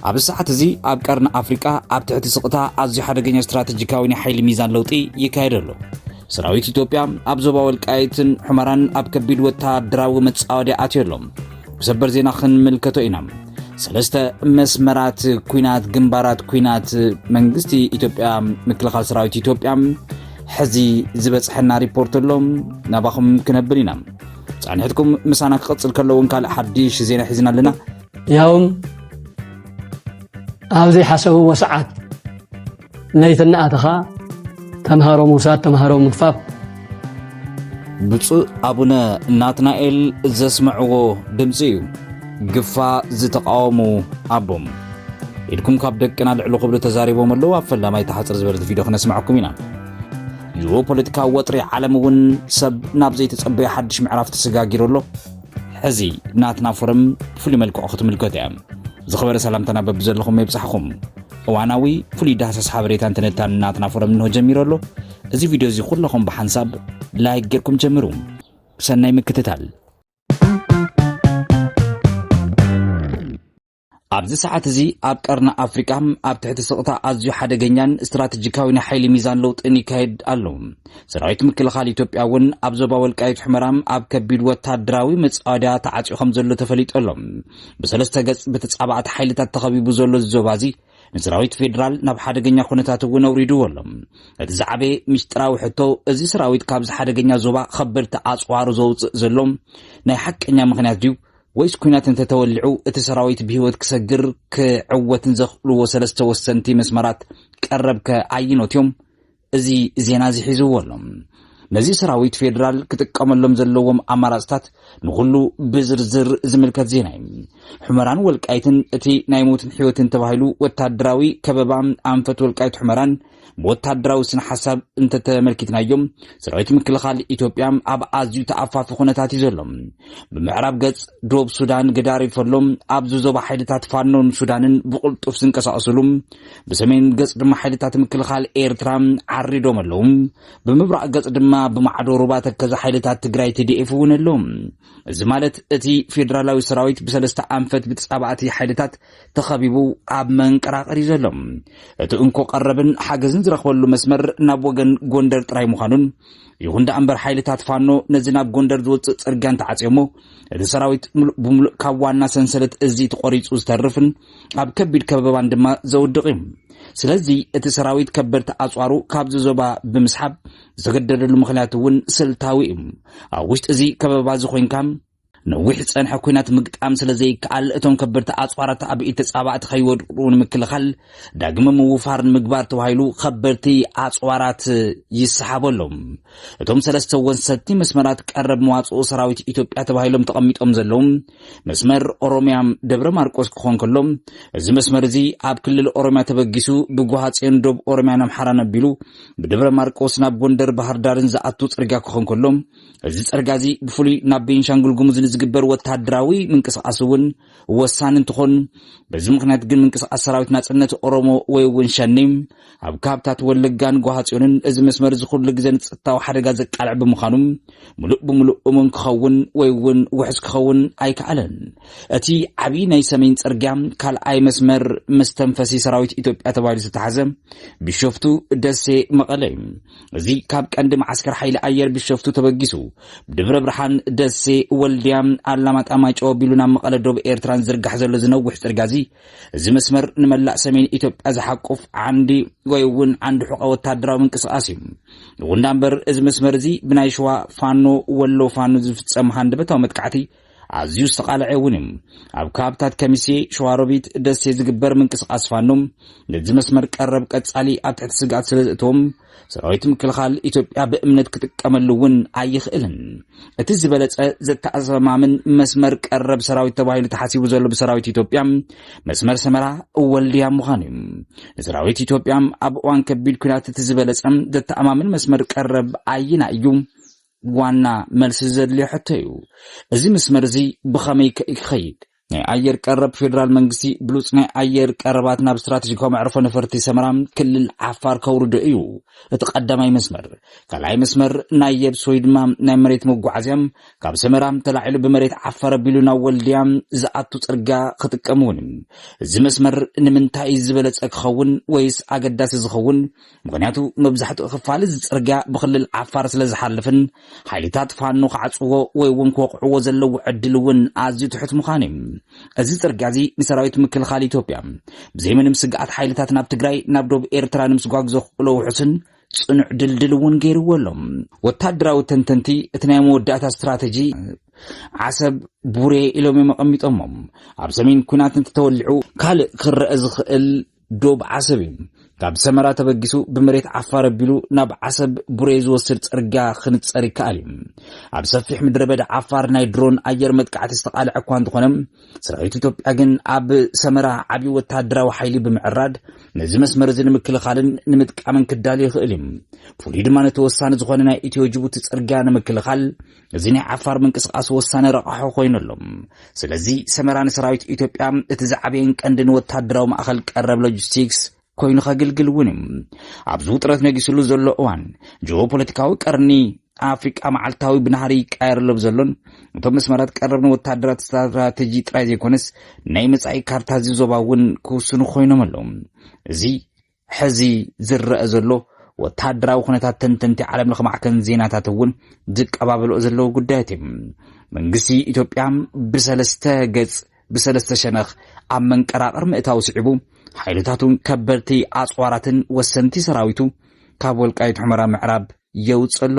ኣብዚ ሰዓት እዚ ኣብ ቀርኒ ኣፍሪቃ ኣብ ትሕቲ ስቕታ ኣዝዩ ሓደገኛ ስትራቴጂካዊ ናይ ሓይሊ ሚዛን ለውጢ ይካየድ ኣሎ ሰራዊት ኢትዮጵያ ኣብ ዞባ ወልቃይትን ሑመራን ኣብ ከቢድ ወተሃደራዊ መጻወድያ ኣትዮ ኣሎ ብሰበር ዜና ክንምልከቶ ኢና ሰለስተ መስመራት ኩናት ግንባራት ኩናት መንግስቲ ኢትዮጵያ ምክልኻል ሰራዊት ኢትዮጵያ ሕዚ ዝበፅሐና ሪፖርት ኣሎ ናባኹም ክነብል ኢና ፃንሒትኩም ምሳና ክቕፅል ከለውን ካልእ ሓድሽ ዜና ሒዝና ኣለና ያውም ኣብ ዘይሓሰብዎ ሰዓት ለይቲ እናኣተኻ ተምሃሮ ምውሳድ ተምሃሮ ምግፋፍ ብፁእ ኣቡነ ናትናኤል ዘስምዕዎ ድምፂ እዩ ግፋ ዝተቃወሙ ኣቦም ኢድኩም ካብ ደቅና ልዕሊ ክብሉ ተዛሪቦም ኣለዉ ኣብ ፈላማይ ተሓፅር ዝበለት ቪድዮ ክነስምዐኩም ኢና ጂኦፖለቲካዊ ወጥሪ ዓለም እውን ሰብ ናብ ዘይተጸበዮ ሓድሽ ምዕራፍ ተሰጋጊሩ ኣሎ ሕዚ ናትና ፎረም ብፍሉይ መልክዑ ክትምልከት እያ ዝኸበረ ሰላምታና በብዘለኹም የብጻሕኹም እዋናዊ ፍሉይ ዳህሳስ ሓበሬታን ትንታን ናትና ፎረም እንሆ ጀሚሩ ኣሎ እዚ ቪድዮ እዚ ኩለኹም ብሓንሳብ ላይክ ጌርኩም ጀምሩ ሰናይ ምክትታል ኣብዚ ሰዓት እዚ ኣብ ቀርኒ ኣፍሪቃ ኣብ ትሕቲ ስቕታ ኣዝዩ ሓደገኛን ስትራቴጂካዊ ናይ ሓይሊ ሚዛን ለውጥን ይካየድ ኣሎ። ሰራዊት ምክልኻል ኢትዮጵያ እውን ኣብ ዞባ ወልቃይት ሑመራ ኣብ ከቢድ ወታደራዊ መጻወድያ ተዓጽዩ ከም ዘሎ ተፈሊጡ ኣሎ። ብሰለስተ ገጽ ብተጻባእቲ ሓይልታት ተኸቢቡ ዘሎ እዚ ዞባ እዚ ንሰራዊት ፌዴራል ናብ ሓደገኛ ኩነታት እውን ኣውሪድዎ ኣሎ እቲ ዝዓበየ ምስጢራዊ ሕቶ እዚ ሰራዊት ካብዚ ሓደገኛ ዞባ ከበድቲ ኣፅዋሩ ዘውፅእ ዘሎ ናይ ሓቀኛ ምክንያት ድዩ ወይስ ኲናት እንተ ተወሊዑ እቲ ሰራዊት ብህይወት ክሰግር ክዕወትን ዘኽእልዎ ሰለስተ ወሰንቲ መስመራት ቀረብከ ኣየኖት እዮም? እዚ ዜና እዚ ሒዝዎ ኣሎ። ነዚ ሰራዊት ፌዴራል ክጥቀመሎም ዘለዎም ኣማራፅታት ንኹሉ ብዝርዝር ዝምልከት ዜና እዩ። ሑመራን ወልቃይትን እቲ ናይ ሞትን ሕይወትን ተባሂሉ ወታደራዊ ከበባ ኣንፈት ወልቃይት ሑመራን ብወታደራዊ ስነ ሓሳብ እንተተመልኪትናዮም ሰራዊት ምክልኻል ኢትዮጵያ ኣብ ኣዝዩ ተኣፋፊ ኩነታት እዩ ዘሎ። ብምዕራብ ገጽ ዶብ ሱዳን ገዳሪፍ ኣሎ። ኣብዚ ዞባ ሓይልታት ፋኖን ሱዳንን ብቕልጡፍ ዝንቀሳቐስሉ፣ ብሰሜን ገጽ ድማ ሓይልታት ምክልኻል ኤርትራ ዓሪዶም ኣለዉ። ብምብራቕ ገጽ ድማ ብማዕዶ ሩባ ተከዘ ሓይልታት ትግራይ ትዲኤፍ እውን ኣሎ። እዚ ማለት እቲ ፌደራላዊ ሰራዊት ብሰለስተ ኣንፈት ብተጻባእቲ ሓይልታት ተኸቢቡ ኣብ መንቀራቐር እዩ ዘሎ። እቲ እንኮ ቀረብን ሓገዝን ዝረኽበሉ መስመር ናብ ወገን ጎንደር ጥራይ ምዃኑን ይኹን ደኣ እምበር ሓይልታት ፋኖ ነዚ ናብ ጎንደር ዝወፅእ ፅርግያ እንተዓፅዮሞ እቲ ሰራዊት ምሉእ ብምሉእ ካብ ዋና ሰንሰለት እዚ ተቖሪፁ ዝተርፍን ኣብ ከቢድ ከበባን ድማ ዘውድቕ እዩ ስለዚ እቲ ሰራዊት ከበድቲ ኣፅዋሩ ካብዚ ዞባ ብምስሓብ ዝተገደደሉ ምክንያት እውን ስልታዊ እዩ ኣብ ውሽጢ እዚ ከበባ እዚ ኮንካ ነዊሕ ዝጸንሐ ኲናት ምግጣም ስለ ዘይከኣል እቶም ከበድቲ ኣጽዋራት ኣብ ኢድ ተጻባእቲ ከይወድቁ ንምክልኻል ዳግመ ምውፋር ንምግባር ተባሂሉ ከበድቲ ኣጽዋራት ይሰሓቡ ኣሎም። እቶም ሰለስተ ወሰንቲ መስመራት ቀረብ መዋጽኦ ሰራዊት ኢትዮጵያ ተባሂሎም ተቐሚጦም ዘለዉ መስመር ኦሮሚያ ደብረ ማርቆስ ክኾን ከሎ እዚ መስመር እዚ ኣብ ክልል ኦሮሚያ ተበጊሱ ብጓሃጽዮን ዶብ ኦሮሚያን ኣምሓራን ኣቢሉ ብደብረ ማርቆስ ናብ ጎንደር ባህርዳርን ዝኣቱ ጽርግያ ክኾን ከሎ እዚ ጸርጋ እዚ ብፍሉይ ናብ ቤንሻንጉል ጉሙዝ ንዝግበር ወተሃደራዊ ምንቅስቓስ እውን ወሳኒ እንትኾን በዚ ምክንያት ግን ምንቅስቓስ ሰራዊት ናጽነት ኦሮሞ ወይ እውን ሸኔ ኣብ ካብታት ወለጋን ጓሃጽዮንን እዚ መስመር እዚ ኩሉ ግዜ ንጸጥታዊ ሓደጋ ዘቃልዕ ብምዃኑ ምሉእ ብምሉእ እሙን ክኸውን ወይ እውን ውሕስ ክኸውን ኣይከኣለን። እቲ ዓብዪ ናይ ሰሜን ጽርግያ ካልኣይ መስመር መስተንፈሲ ሰራዊት ኢትዮጵያ ተባሂሉ ዝተሓዘ ቢሾፍቱ፣ ደሴ፣ መቐለ እዩ። እዚ ካብ ቀንዲ መዓስከር ሓይሊ ኣየር ቢሸፍቱ ተበጊሱ ብድብረ ብርሃን፣ ደሴ፣ ወልድያ፣ ኣላማጣ፣ ማይጨው ኣቢሉ ናብ መቐለ ዶብ ኤርትራን ዝርጋሕ ዘሎ ዝነውሕ ጽርግያ እዚ እዚ መስመር ንመላእ ሰሜን ኢትዮጵያ ዝሓቁፍ ዓንዲ ወይ እውን ዓንዲ ሑቐ ወታደራዊ ምንቅስቓስ እዩ። ይኹንዳ እምበር እዚ መስመር እዚ ብናይ ሸዋ ፋኖ ወሎ ፋኖ ዝፍጸም ሃንደበታዊ መጥቃዕቲ ኣዝዩ ዝተቓልዐ እውን እዩ። ኣብ ከባብታት ከሚሴ፣ ሸዋሮቢት፣ ደሴ ዝግበር ምንቅስቓስ ፋኖ ነዚ መስመር ቀረብ ቀጻሊ ኣብ ትሕቲ ስግኣት ስለ ዘእትዎም ሰራዊት ምክልኻል ኢትዮጵያ ብእምነት ክጥቀመሉ እውን ኣይኽእልን። እቲ ዝበለጸ ዘተኣማምን መስመር ቀረብ ሰራዊት ተባሂሉ ተሓሲቡ ዘሎ ብሰራዊት ኢትዮጵያ መስመር ሰመራ ወልድያ ምዃኑ እዩ። ንሰራዊት ኢትዮጵያ ኣብ እዋን ከቢድ ኩናት እቲ ዝበለጸ ዘተኣማምን መስመር ቀረብ ኣይና እዩ። ዋና መልሲ ዘድልዮ ሕቶ እዩ። እዚ መስመር እዚ ብኸመይ ከ ክኸይድ? ናይ ኣየር ቀረብ ፌዴራል መንግስቲ ብሉፅ ናይ ኣየር ቀረባት ናብ ስትራቴጂካዊ መዕርፎ ነፈርቲ ሰመራ ክልል ዓፋር ከውርዶ እዩ እቲ ቀዳማይ መስመር። ካልኣይ መስመር ናይ የብስ ወይ ድማ ናይ መሬት መጓዓዝያ ካብ ሰመራ ተላዒሉ ብመሬት ዓፋር ኣቢሉ ናብ ወልድያ ዝኣቱ ፅርጋ ክጥቀም እውን እዩ። እዚ መስመር ንምንታይ ዝበለፀ ክኸውን ወይስ ኣገዳሲ ዝኸውን ምኽንያቱ መብዛሕትኡ ክፋል እዚ ጽርግያ ብክልል ዓፋር ስለ ዝሓልፍን ሓይልታት ፋኖ ክዓጽዎ ወይ እውን ክወቕዕዎ ዘለዎ ዕድል እውን ኣዝዩ ትሑት ምዃኑ እዩ። እዚ ጽርግያ እዚ ንሰራዊት ምክልኻል ኢትዮጵያ ብዘይ ምንም ስግኣት ሓይልታት ናብ ትግራይ ናብ ዶብ ኤርትራ ንምስጓግ ዘኽእሎ ውሑስን ጽኑዕ ድልድል እውን ገይርዎ ኣሎ። ወታደራዊ ተንተንቲ እቲ ናይ መወዳእታ ስትራተጂ ዓሰብ ቡሬ ኢሎም እዮም ኣቐሚጦሞም ኣብ ሰሜን ኩናት እንተተወሊዑ ካልእ ክረአ ዝኽእል ዶብ ዓሰብ እዩ። ካብ ሰመራ ተበጊሱ ብመሬት ዓፋር ኣቢሉ ናብ ዓሰብ ቡሬ ዝወስድ ጽርግያ ክንጸር ይከኣል እዩ። ኣብ ሰፊሕ ምድረ በዳ ዓፋር ናይ ድሮን ኣየር መጥቃዕቲ ዝተቓልዐ እኳ እንተኾነ ሰራዊት ኢትዮጵያ ግን ኣብ ሰመራ ዓብዪ ወተሃደራዊ ሓይሊ ብምዕራድ ነዚ መስመር እዚ ንምክልኻልን ንምጥቃምን ክዳሉ ይኽእል እዩ። ፍሉይ ድማ ነቲ ወሳኒ ዝኾነ ናይ ኢትዮ ጅቡቲ ጽርግያ ንምክልኻል እዚ ናይ ዓፋር ምንቅስቓስ ወሳኒ ረቛሖ ኮይኑ ኣሎ። ስለዚ ሰመራ ንሰራዊት ኢትዮጵያ እቲ ዝዓበየን ቀንድን ወታደራዊ ማእኸል ቀረብ ሎጂስቲክስ ኮይኑ ከግልግል እውን እዩ። ኣብዚ ውጥረት ነጊስሉ ዘሎ እዋን ጂኦፖለቲካዊ ቀርኒ ኣፍሪቃ መዓልታዊ ብናህሪ ይቃየር ኣሎ ብዘሎን እቶም መስመራት ቀረብ ንወታደራት ስትራተጂ ጥራይ ዘይኮነስ ናይ መጻኢ ካርታ እዚ ዞባ እውን ክውስኑ ኮይኖም ኣለዉ። እዚ ሕዚ ዝረኣ ዘሎ ወተሃደራዊ ኩነታት ተንተንቲ ዓለም ለኸ ማዕከን ዜናታት እውን ዝቀባበልኦ ዘለዉ ጉዳያት እዩ። መንግስቲ ኢትዮጵያ ብሰለስተ ገጽ ብሰለስተ ሸነኽ ኣብ መንቀራቕር ምእታው ስዒቡ ሓይልታቱን ከበድቲ ኣጽዋራትን ወሰንቲ ሰራዊቱ ካብ ወልቃይት ሑመራ ምዕራብ የውጽእ ኣሎ።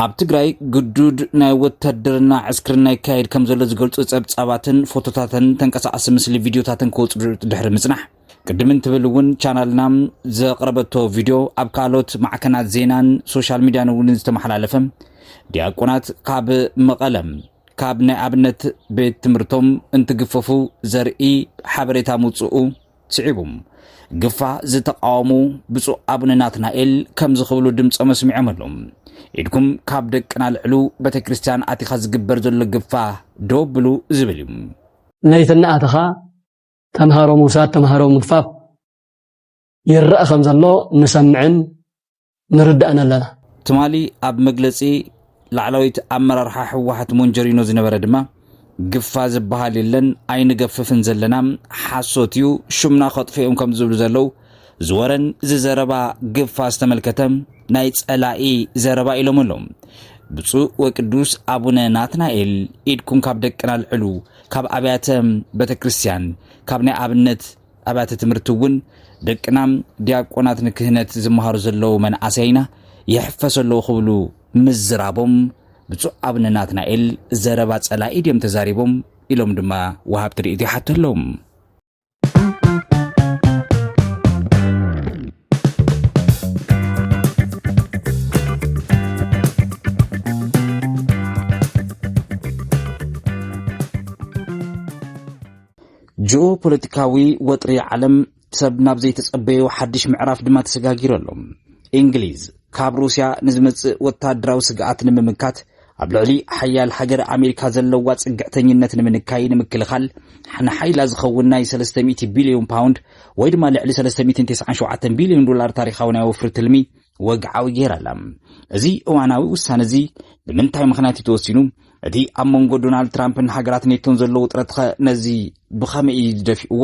ኣብ ትግራይ ግዱድ ናይ ወታደርና ዕስክርና ይካየድ ከም ዘሎ ዝገልፁ ፀብፃባትን ፎቶታትን ተንቀሳቐሲ ምስሊ ቪድዮታትን ክወፁ ድሕሪ ምፅናሕ ቅድም እንትብል እውን ቻናልና ዘቕረበቶ ቪድዮ ኣብ ካልኦት ማዕከናት ዜናን ሶሻል ሚድያን እውን ዝተመሓላለፈ ዲያቆናት ካብ መቐለም ካብ ናይ ኣብነት ቤት ትምህርቶም እንትግፈፉ ዘርኢ ሓበሬታ ምውፅኡ ስዒቡ ግፋ ዝተቃወሙ ብፁዕ ኣቡነ ናትናኤል ከምዚ ክብሉ ድምፆም ኣስሚዖም ኣለዉ ኢድኩም ካብ ደቅና ልዕሉ ቤተ ክርስቲያን ኣቲኻ ዝግበር ዘሎ ግፋ ዶ ብሉ ዝብል እዩ ነይተናኣተኻ ተምሃሮ ምውሳድ ተምሃሮ ምግፋፍ ይረኣ ከም ዘሎ ንሰምዕን ንርዳእን ኣለና። ትማሊ ኣብ መግለፂ ላዕላዊት ኣመራርሓ ህወሓት ሞንጀሪኖ ዝነበረ ድማ ግፋ ዝበሃል የለን ኣይንገፍፍን ዘለና ሓሶት እዩ ሹምና ከጥፉ እዮም ከም ዝብሉ ዘለው ዝወረን ዝዘረባ ግፋ ዝተመልከተ ናይ ጸላኢ ዘረባ ኢሎም ኣለዉ። ብፁዕ ወቅዱስ ኣቡነ ናትናኤል ኢድኩም ካብ ደቅና ኣልዕሉ ካብ ኣብያተ ቤተ ክርስቲያን ካብ ናይ ኣብነት ኣብያተ ትምህርቲ እውን ደቅና ዲያቆናት ንክህነት ዝመሃሩ ዘለዉ መንእሰይና ይሕፈሶ ኣለዉ ክብሉ ምዝራቦም ብፁዕ ኣብነ ናትናኤል ዘረባ ጸላኢ ድዮም ተዛሪቦም ኢሎም ድማ ወሃብቲ ርእይቶ ይሓቱ ኣለዉ። ጂኦ ፖለቲካዊ ወጥሪ ዓለም ሰብ ናብ ዘይተጸበዮ ሓድሽ ምዕራፍ ድማ ተሰጋጊሩ ኣሎ። እንግሊዝ ካብ ሩስያ ንዝመጽእ ወተሃደራዊ ስግኣት ንምምካት ኣብ ልዕሊ ሓያል ሃገር ኣሜሪካ ዘለዋ ጽግዕተኝነት ንምንካይ ንምክልኻል ንሓይላ ዝኸውን ናይ ሰለስተ ሚእቲ ቢልዮን ፓውንድ ወይ ድማ ልዕሊ ሰለስተ ሚእትን ተስዓን ሸውዓተን ቢልዮን ዶላር ታሪኻዊ ናይ ወፍሪ ትልሚ ወግዓዊ ገይራ ኣላ። እዚ እዋናዊ ውሳነ እዚ ብምንታይ ምኽንያት እዩ ተወሲኑ? እቲ ኣብ መንጎ ዶናልድ ትራምፕን ሃገራት ኔቶን ዘሎ ውጥረት ኸ ነዚ ብኸመይ እዩ ዝደፊእዎ?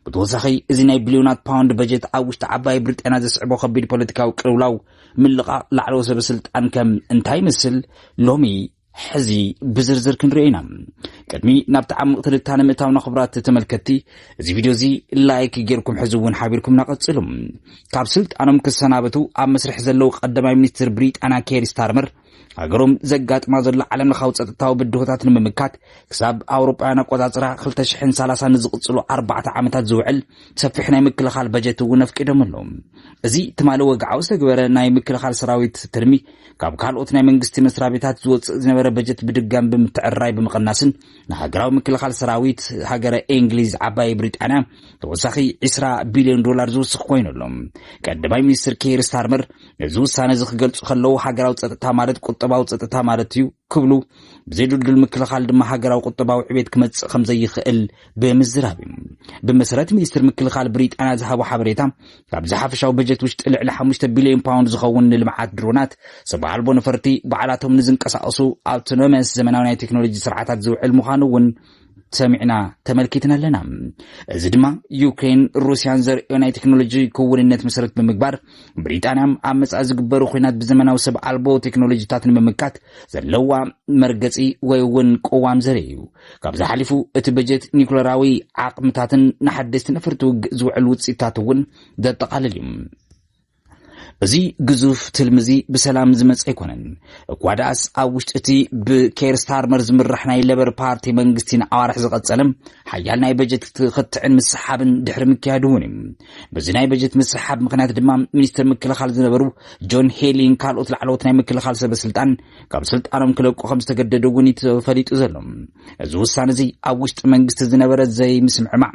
ብተወሳኺ እዚ ናይ ቢልዮናት ፓውንድ በጀት ኣብ ውሽጢ ዓባይ ብሪጣንያ ዘስዕቦ ከቢድ ፖለቲካዊ ቅልውላው ምልቓቕ ላዕለዎ ሰበስልጣን ከም እንታይ ይመስል ሎሚ ሕዚ ብዝርዝር ክንሪኦ ኢና ቅድሚ ናብ ተዓምቕ ትንታነ ምእታውና ክብራት ተመልከቲ እዚ ቪድዮ እዚ ላይክ ጌርኩም ሕዚ እውን ሓቢርኩምና ቀጽሉ ካብ ስልጣኖም ክሰናበቱ ኣብ መስርሕ ዘለዉ ቀዳማይ ሚኒስትር ብሪጣንያ ኬር ስታርመር ሃገሮም ዘጋጥማ ዘሎ ዓለም ለኻዊ ጸጥታዊ ብድሆታት ንምምካት ክሳብ ኣውሮጳውያን ኣቆጻጽራ 2030 ንዝቕጽሉ ኣርባዕተ ዓመታት ዝውዕል ሰፊሕ ናይ ምክልኻል በጀት እውን ኣፍቂዶም ኣለዉ እዚ ትማሊ ወግዓዊ ዝተግበረ ናይ ምክልኻል ሰራዊት ትልሚ ካብ ካልኦት ናይ መንግስቲ መስሪያ ቤታት ዝወፅእ ዝነበረ በጀት ብድጋም ብምትዕርራይ ብምቕናስን ንሃገራዊ ምክልኻል ሰራዊት ሃገረ እንግሊዝ ዓባይ ብሪጣንያ ተወሳኺ 20 ቢልዮን ዶላር ዝውስኽ ኮይኑ ኣሎ ቀዳማይ ሚኒስትር ኬር ስታርመር ነዚ ውሳነ እዚ ክገልጹ ከለዉ ሃገራዊ ጸጥታ ማለት ቁጠባዊ ጸጥታ ማለት እዩ ክብሉ ብዘይድልዱል ምክልኻል ድማ ሃገራዊ ቁጠባዊ ዕቤት ክመጽእ ከም ዘይኽእል ብምዝራብ እዩ ብመሰረት ሚኒስትር ምክልኻል ብሪጣንያ ዝሃቦ ሓበሬታ ካብዚ ሓፈሻዊ በጀት ውሽጢ ልዕሊ 5 ቢልዮን ፓውንድ ዝኸውን ንልምዓት ድሮናት ሰብ ኣልቦ ነፈርቲ ባዕላቶም ንዝንቀሳቐሱ ኣውቶኖመስ ዘመናዊ ናይ ቴክኖሎጂ ስርዓታት ዝውዕል ምዃኑ እውን ሰሚዕና ተመልኪትን ኣለና። እዚ ድማ ዩክሬን ሩስያን ዘርእዮ ናይ ቴክኖሎጂ ክውንነት መሰረት ብምግባር ብሪጣንያ ኣብ መጻኢ ዝግበሩ ኩናት ብዘመናዊ ሰብ ኣልቦ ቴክኖሎጂታት ንምምካት ዘለዋ መርገፂ ወይ እውን ቅዋም ዘርኢ እዩ። ካብዚ ሓሊፉ እቲ በጀት ኒኩለራዊ ዓቕምታትን ንሓደስቲ ነፈርቲ ውግእ ዝውዕል ውፅኢታት እውን ዘጠቓልል እዩ። እዚ ግዙፍ ትልሚ እዚ ብሰላም ዝመፀ ኣይኮነን። እኳ ደኣስ ኣብ ውሽጢ እቲ ብኬር ስታርመር ዝምራሕ ናይ ለበር ፓርቲ መንግስቲ ንኣዋርሕ ዝቐፀለ ሓያል ናይ በጀት ክትዕን ምስሓብን ድሕሪ ምክያዱ እውን እዩ። በዚ ናይ በጀት ምስሓብ ምክንያት ድማ ሚኒስትር ምክልኻል ዝነበሩ ጆን ሄሊን ካልኦት ላዕለዎት ናይ ምክልኻል ሰበስልጣን ካብ ስልጣኖም ክለቁ ከም ዝተገደዱ እውን ተፈሊጡ ዘሎ። እዚ ውሳነ እዚ ኣብ ውሽጢ መንግስቲ ዝነበረ ዘይምስምዕማዕ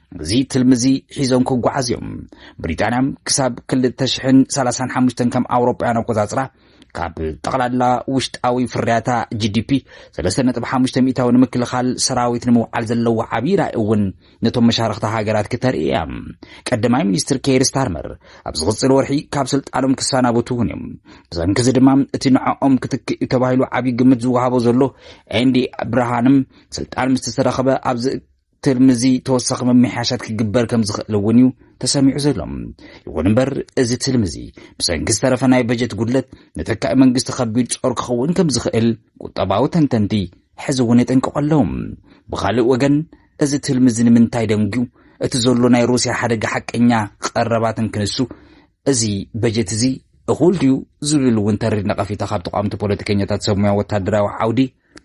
እዚ ትልሚ እዚ ሒዞም ክጓዓዝ እዮም። ብሪጣንያ ክሳብ 2035 ከም ኣውሮጳውያን ኣቆጻጽራ ካብ ጠቕላላ ውሽጣዊ ፍርያታ ጂዲፒ 3.5 ሚእታዊ ንምክልኻል ሰራዊት ንምውዓል ዘለዎ ዓብዪ ራእይ እውን ነቶም መሻርኽቲ ሃገራት ክተርኢ እያ። ቀዳማይ ሚኒስትር ኬር ስታርመር ኣብ ዝቕፅል ወርሒ ካብ ስልጣኖም ክሰናበቱ እውን እዮም። ብሰንኪ እዚ ድማ እቲ ንዕኦም ክትክእ እዩ ተባሂሉ ዓብዪ ግምት ዝወሃቦ ዘሎ ኤንዲ ብርሃንም ስልጣን ምስ ተረኸበ ኣብዚ ትልሚ እዚ ተወሳኺ ምምሕያሻት ክግበር ከም ዝኽእል እውን እዩ ተሰሚዑ ዘሎ። ይኹን እምበር እዚ ትልሚ እዚ ብሰንኪ ዝተረፈ ናይ በጀት ጉድለት ንተካኢ መንግስቲ ከቢድ ጾር ክኸውን ከም ዝኽእል ቁጠባዊ ተንተንቲ ሕዚ እውን የጠንቅቑ ኣለዉ። ብኻልእ ወገን እዚ ትልሚ እዚ ንምንታይ ደንጒዩ እቲ ዘሎ ናይ ሩስያ ሓደጋ ሓቀኛ ቐረባት እንክንሱ እዚ በጀት እዚ እኹል ድዩ ዝብል እውን ተሪር ነቐፊታ ካብ ተቓወምቲ ፖለቲከኛታት ሰብ ሙያ ወታደራዊ ዓውዲ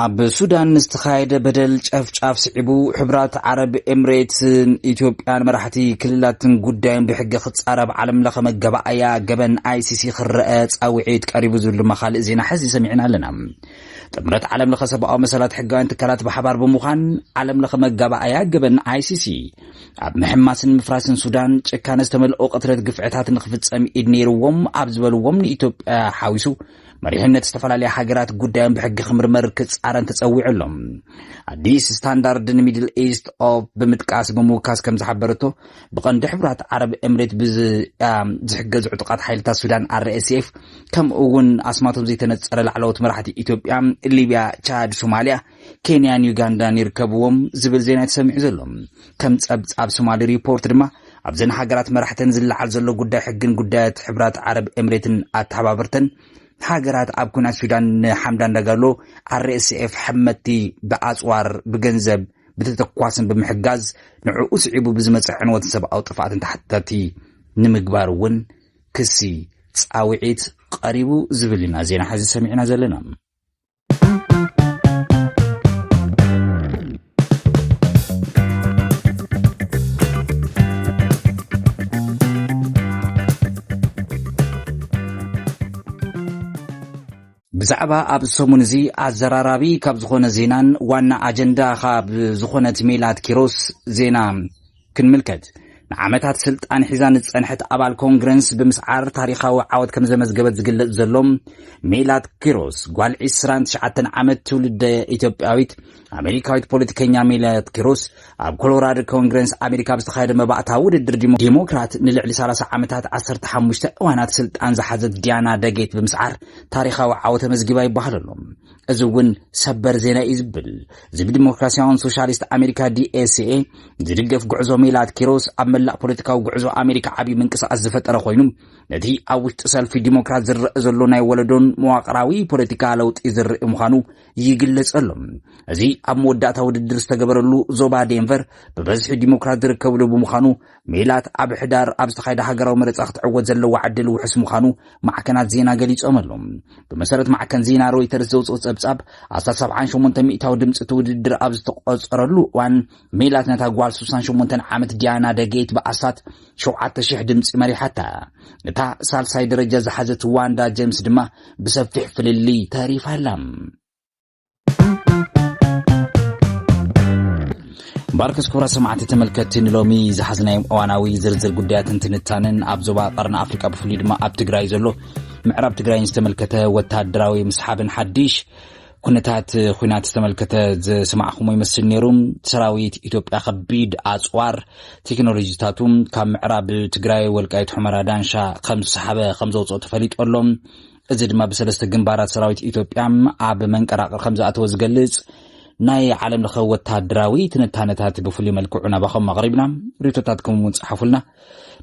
ኣብ ሱዳን ንዝተኻየደ በደል ጨፍጫፍ ስዒቡ ሕብራት ዓረብ ኤምሬትስን ኢትዮጵያን መራሕቲ ክልላትን ጉዳዮም ብሕጊ ክፃረ ኣብ ዓለም ለኸ መገባኣያ ገበን ኣይሲሲ ክረአ ፃውዒት ቀሪቡ ዝብልማ ካልእ ዜና ሕዚ ሰሚዕና ኣለና። ጥምረት ዓለም ለኸ ሰብኣዊ መሰላት ሕጋውያን ትካላት ብሓባር ብምዃን ዓለም ለኸ መጋባኣያ ገበን ኣይሲሲ ኣብ ምሕማስን ምፍራስን ሱዳን ጭካነ ዝተመልኦ ቅትለት ግፍዕታት ንክፍፀም ኢድ ነይርዎም ኣብ ዝበልዎም ንኢትዮጵያ ሓዊሱ መሪሕነት ዝተፈላለያ ሃገራት ጉዳዮም ብሕጊ ክምርመር ክጻረን ተጸዊዑ ኣሎ። ኣዲስ ስታንዳርድ ንሚድል ኢስት ኦፕ ብምጥቃስ ብምውካስ ከም ዝሓበረቶ ብቐንዲ ሕቡራት ዓረብ ኤምሬት ብዝያ ዝሕገዙ ዕጡቓት ሓይልታት ሱዳን RSF ከምኡ እውን ኣስማቶም ዘይተነጸረ ላዕለዎት መራሕቲ ኢትዮጵያ፣ ሊብያ፣ ቻድ፣ ሶማልያ ኬንያን ዩጋንዳን ይርከብዎም ዝብል ዜና እዩ ተሰሚዑ ዘሎ። ከም ጸብጻብ ሶማሊ ሪፖርት ድማ ኣብዘን ሃገራት መራሕተን ዝለዓል ዘሎ ጉዳይ ሕግን ጉዳያት ሕብራት ዓረብ ኤምሬትን ኣተሓባበርተን ሃገራት ኣብ ኩናት ሱዳን ንሓምዳን ዳጋሎ ኣርኤስኤፍ ሕመቲ ብኣጽዋር ብገንዘብ ብተተኳስን ብምሕጋዝ ንዕኡ ስዒቡ ብዝመፀ ዕንወትን ሰብኣዊ ጥፍኣትን ተሓታቲ ንምግባር እውን ክሲ ፃውዒት ቀሪቡ ዝብል ኢና ዜና ሕዚ ሰሚዕና ዘለና። ብዛዕባ ኣብ ሰሙን እዚ ኣዘራራቢ ካብ ዝኾነ ዜናን ዋና ኣጀንዳ ካብ ዝኾነት ሜላት ኪሮስ ዜና ክንምልከት ንዓመታት ስልጣን ሒዛ ንዝጸንሐት ኣባል ኮንግረንስ ብምስዓር ታሪኻዊ ዓወት ከም ዘመዝገበት ዝግለጽ ዘሎ ሜላት ኪሮስ ጓል 29 ዓመት ትውልደ ኢትዮጵያዊት ኣሜሪካዊት ፖለቲከኛ ሜላት ኪሮስ ኣብ ኮሎራዶ ኮንግረንስ ኣሜሪካ ብዝተኻየደ መባእታ ውድድር ዲሞክራት ንልዕሊ 30 ዓመታት 15 እዋናት ስልጣን ዝሓዘት ዲያና ደጌት ብምስዓር ታሪኻዊ ዓወት ተመዝጊባ ይበሃል ኣሎ። እዚ እውን ሰበር ዜና እዩ ዝብል እዚ ብዲሞክራሲያውን ሶሻሊስት ኣሜሪካ ዲኤስኤ ዝድገፍ ጉዕዞ ሜላት ኪሮስ ኣብ መላእ ፖለቲካዊ ጉዕዞ ኣሜሪካ ዓብዪ ምንቅስቓስ ዝፈጠረ ኮይኑ ነቲ ኣብ ውሽጢ ሰልፊ ዲሞክራት ዝረአ ዘሎ ናይ ወለዶን መዋቕራዊ ፖለቲካ ለውጢ ዝርኢ ምዃኑ ይግለጸሉ እዚ ኣብ መወዳእታ ውድድር ዝተገበረሉ ዞባ ዴንቨር ብበዝሒ ዲሞክራት ዝርከብሉ ብምዃኑ ሜላት ኣብ ሕዳር ኣብ ዝተኻየደ ሃገራዊ መረፃ ክትዕወት ዘለዋ ዕድል ውሑስ ምዃኑ ማዕከናት ዜና ገሊፆምሉ። ብመሰረት ማዕከን ዜና ሮይተርስ ዘውፅኦ ፀብፃብ፣ ኣስታት ሰብዓን ሸሞንተን ሚእታዊ ድምፂ እቲ ውድድር ኣብ ዝተቖፀረሉ እዋን ሜላት ነታ ጓል ስሳን ሸሞንተን ዓመት ዲያና ደጌት ብኣስታት ሸውዓተ ሽሕ ድምፂ መሪሓታ። እታ ሳልሳይ ደረጃ ዝሓዘት ዋንዳ ጀምስ ድማ ብሰፊሕ ፍልልይ ተሪፋ ኣላ። ባርከስ ክብራ ሰማዕቲ ተመልከትቲ ንሎሚ ዝሓዝናዮም እዋናዊ ዝርዝር ጉዳያትን ትንታንን ኣብ ዞባ ቀርኒ ኣፍሪቃ ብፍሉይ ድማ ኣብ ትግራይ ዘሎ ምዕራብ ትግራይን ዝተመልከተ ወተሃደራዊ ምስሓብን ሓድሽ ኩነታት ኩናት ዝተመልከተ ዝስማዕኹሞ ይመስል ነይሩ ሰራዊት ኢትዮጵያ ከቢድ ኣፅዋር ቴክኖሎጂታቱ ካብ ምዕራብ ትግራይ ወልቃይት ሑመራ ዳንሻ ከም ዝሰሓበ ከም ዘውፅኦ ተፈሊጦ ኣሎ እዚ ድማ ብሰለስተ ግንባራት ሰራዊት ኢትዮጵያ ኣብ መንቀራቕር ከም ዝኣተወ ዝገልጽ ናይ ዓለም ለኸ ወተሃደራዊ ትንታነታት ብፍሉይ መልክዑ ናባኸም ኣቕሪብና ሪቶታትኩም እውን ጸሓፉልና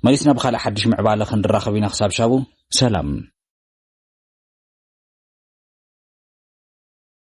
መሊስና ብካልእ ሓድሽ ምዕባለ ክንራኸብ ኢና ክሳብ ሻቡ ሰላም